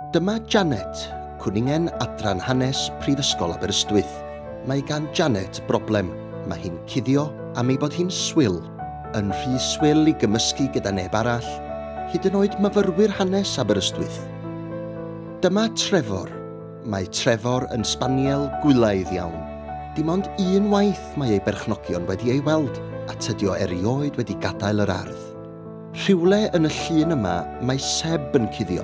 Dyma Janet, cwningen Adran Hanes Prifysgol Aberystwyth. Mae gan Janet broblem, mae hi'n cuddio am ei bod hi'n swil, yn rhy swil i gymysgu gyda neb arall, hyd yn oed myfyrwyr hanes Aberystwyth. Dyma Trevor. Mae Trevor yn sbaniel gwylaidd iawn. Dim ond un waith mae ei berchnogion wedi ei weld, a tydio erioed wedi gadael yr ardd. Rhywle yn y llun yma mae Seb yn cuddio.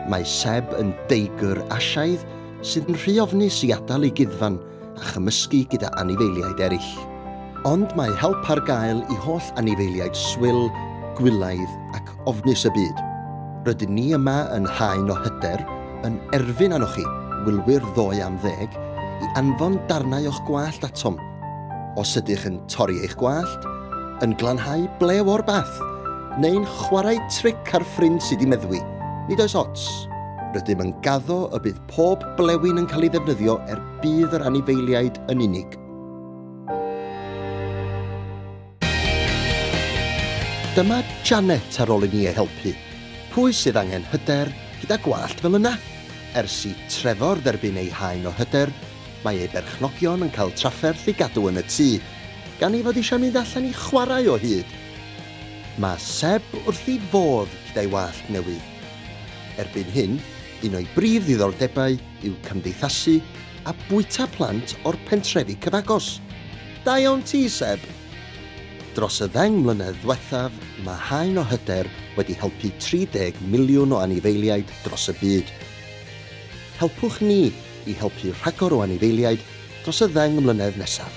Mae Seb yn deigr Asiaidd sydd yn rhy ofnus i adael ei guddfan a chymysgu gyda anifeiliaid eraill. Ond mae help ar gael i holl anifeiliaid swil, gwylaidd ac ofnus y byd. Rydyn ni yma yn haen o hyder yn erfyn arnoch chi, wylwyr ddoe am ddeg, i anfon darnau o'ch gwallt atom. Os ydych yn torri eich gwallt, yn glanhau blew o'r bath, neu'n chwarae tric ar ffrind sydd i meddwi, nid oes ots. Rydym yn gaddo y bydd pob blewyn yn cael ei ddefnyddio er budd yr anifeiliaid yn unig. Dyma Janet ar ôl i ni ei helpu. Pwy sydd angen hyder gyda gwallt fel yna? Ers i Trevor dderbyn ei haen o hyder, Mae ei berchnogion yn cael trafferth i gadw yn y tŷ, gan ei fod eisiau mynd allan i chwarae o hyd. Mae Seb wrth ei fodd gyda'i wallt newydd. Erbyn hyn, un o'i brif ddiddordebau yw cymdeithasu a bwyta plant o'r pentrefi cyfagos. Da iawn ti, Seb! Dros y ddeng mlynedd ddiwethaf, mae Haen o Hyder wedi helpu 30 miliwn o anifeiliaid dros y byd. Helpwch ni i helpu rhagor o anifeiliaid dros y ddeng mlynedd nesaf.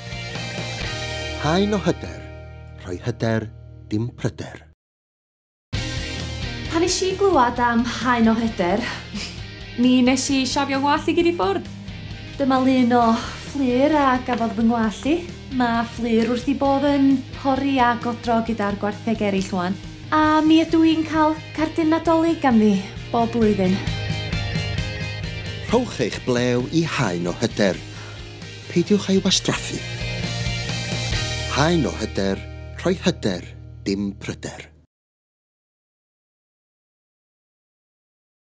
Haen o hyder, rhoi hyder, dim pryder. Pan nes i glywed am Haen o Hyder, mi nes i shafio 'ngwallt i gyd i ffwrdd. Dyma lun o fflur a gafodd fy ngwallt i. Mae fflur wrth ei bodd yn pori a godro gyda'r gwartheg eraill 'wan. A mi ydw i'n cael cardyn Nadolig ganddi bob blwyddyn. Rhowch eich blew i Haen o Hyder. Peidiwch a'i wastraffu. Haen o Hyder, rhoi hyder, dim pryder.